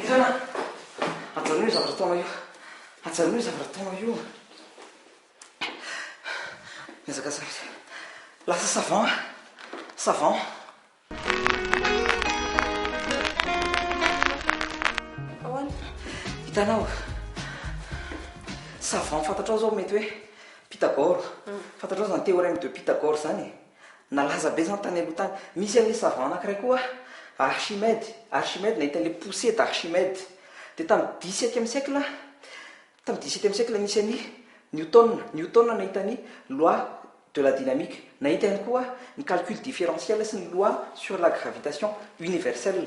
Hirana! Ajanony io zavatra ataonao io. Ajanony io zavatra ataonao io. Miezaka zavatra. Lasa savon. Savon. Ahoana? Hitanao. Savon fantatrao zao mety hoe Pythagore. Hmm. Fantatrao zany théorème de Pythagore zany e. Nalaza be izany tany aloha tany. Misy an'ilay savant anankiray koa Archimède, Archimède nahita an'ilay poussée d'Archimède. Dia tamin'ny dix septième siècle, tamin'ny dix septième siècle nisy an'i Newton, Newton nahita ny loi de la dynamique. Nahita ihany koa ny calcul différentiel sy ny loi sur la gravitation universelle.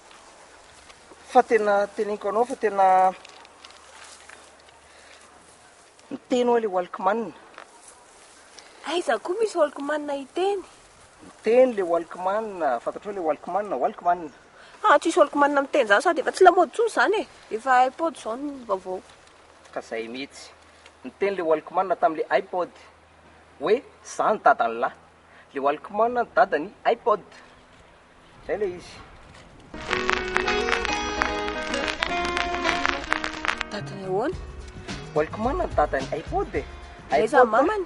Fa tena teneniko anao fa tena miteny oa le walkman. Aiza koa misy walkman hiteny. Miteny le walkman, fantatrao le walkman, walkman. Haa tsisy walkman miteny zany sady efa tsy lamaody tsony zany e, efa ipod zao ny vaovao. Ka zay mitsy. Niteny le walkman tam le ipod oe za ny dadan'lah. Le walkman ny dadan'i ipod. Zay le izy. Dadany ahoana? Walkman ny dadany, iPod e. Aiza ny mamany?